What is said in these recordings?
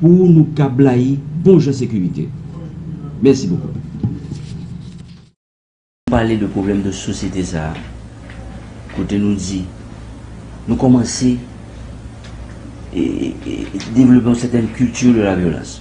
Pou nou ka blayi bon jan sekirite. Mèsi bokou. Nou pale de pwoblèm de sosyete sa a kote nou di nou kòmanse devlope yon sèten kilti de la vyolans.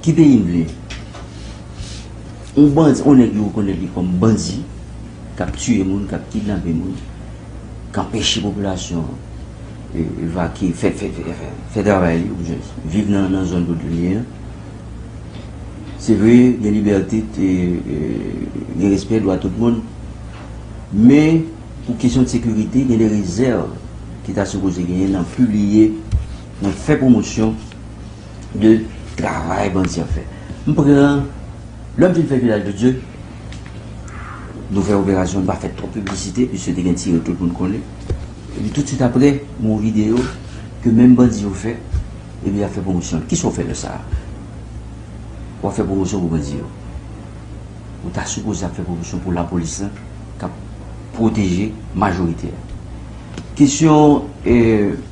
Ki peyi m vle? Yon bandi, yon nèg yo rekonèt li kòm bandi, k ap tiye moun, k ap kidnape moun, k anpeche popilasyon an evakye, fè travay li, oubyen viv nan zòn kote li ye an. Se vre, gen libète, gen respè dwa tout moun, men pou kesyon de sekirite, gen de rezèv ki ta sipoze genyen nan pibliye. Mwen fè pwomosyon de travay bandi ap fè. M pran, lè m fin fè Vilaj de Dye, nou fè operasyon, nou pa fè twòp piblisite, piske te gen tire tout moun konnen. Epi tousuit aprè, gon videyo ke menm bandi yo fè, epi y ap fè pwomosyon l. Kisa w fè lè sa a? W ap fè pwomosyon pou bandi yo. Ou ta sipoze ap fè pwomosyon pou lapolis lan k ap pwoteje majorite a. Kesyon.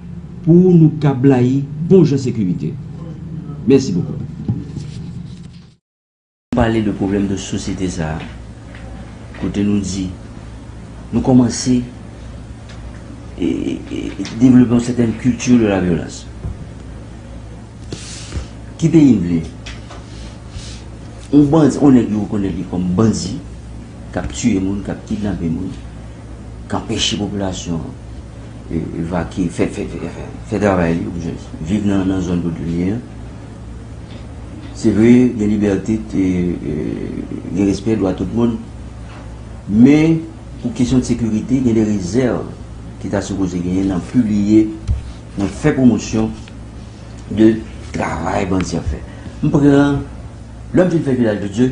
Pou nou ka blayi bon jan sekirite. Mèsi bokou. Nou pale de pwoblèm de sosyete sa a kote nou di nou kòmanse devlope yon sètèn culture de la violence. Ki peyi m vle? Yon bandi, yon nèg yo rekonèt li kòm bandi k ap tiye moun, k ap kidnape moun, k anpeche popilasyon an Evakye, fè fè fè fè fè travay li ou jès viv nan nan zòn kote li ye an. Se vre gen libète te gen respè dwa tout moun men pou kesyon de sekirite gen de rezèv ki ta sipoze genyen nan pibliye nan fè pwomosyon de travay bandi ap fè. M pran lè m fin fè vilaj de dye.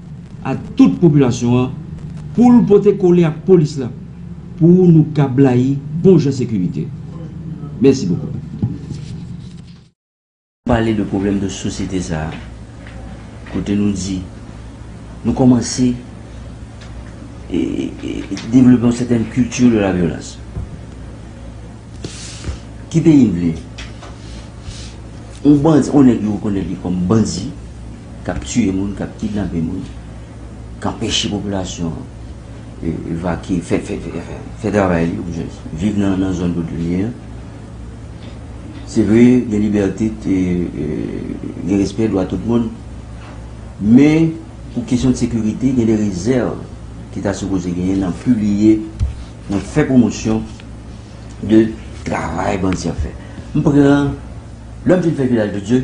a tout popilasyon an pou l pote kole ak polis la pou nou ka blayi bon jan sekirite. Mèsi bokou. Pale de pwoblèm de sosyete sa a kote nou di nou kòmanse devlope yon sètèn kilti de la vyolans. Ki peyi n vle? Yon bandi, yon nèg yo rekonèt li kòm bandi. k ap tiye moun, k ap kidnape moun, k anpeche popilasyon an evakye, fè travay li, viv nan zòn kote li ye an. Se vre, gen libète, gen respè dwa tout moun, men pou kesyon sekirite, gen de rezèv ki ta sipoze genyen nan pibliye, nan fè pwomosyon de travay bandi ap fè. M pran, lè m fin fè Vilaj de Dye.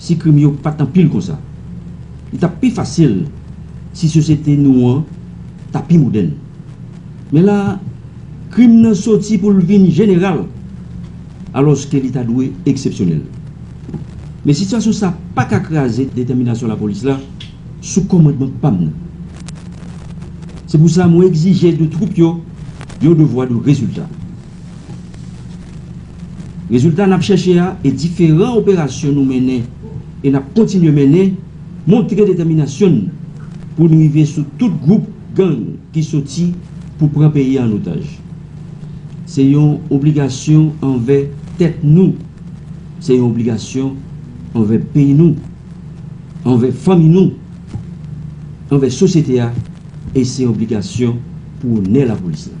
si krim yo pa t anpil konsa. Li t ap pi fasil si sosyete nou an ta pi modèn. Men la a, krim nan soti pou l vin jeneral, alòske li ta dwe eksepsyonèl. Men sitiyasyon sa a pa ka kraze detèminasyon lapolis la sou kòmandman pa m nan. Se pou sa mwen egzije de twoup yo yon devwa de rezilta. Rezilta n ap chèche a e diferan operasyon nou mennen e n ap kontinye mennen montre detèminasyon n pou n rive sou tout gwoup gang ki soti pou pran peyi an otaj. Se yon obligasyon anvè tèt nou, se yon obligasyon anvè peyi nou, anvè fanmi nou, anvè sosyete a e se yon obligasyon pou onè lapolis la.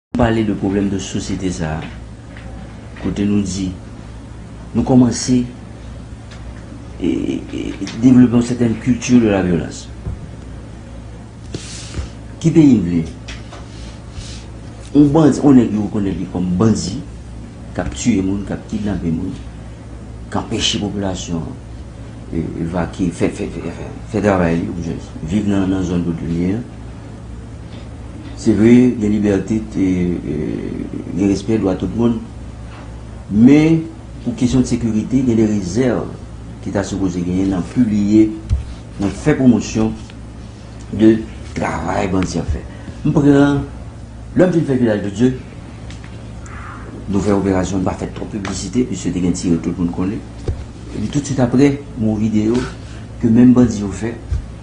Pale de pwoblèm de sosyete sa a kote nou di nou kòmanse devlope yon sètèn kilti de la vyolans. Ki peyi n vle? Yon bandi, yon nèg yo rekonèt li kòm bandi k ap tiye moun, k ap kidnape moun, k anpeche popilasyon an evakye, fè travay li, viv nan zòn kote li ye an. Se vre gen libète, gen respè dwa tout moun, men pou kesyon de sekirite gen de rezèv ki ta sipoze genyen nan pibliye, nan fè pwomosyon de travay bandi ap fè. M pran, lè m fin fè Vilaj de Dye, nou fè operasyon, m pa fè twòp piblisite piske te gen tire tout moun konnen, epi tout swit aprè m wè yon videyo ke menm bandi yo fè,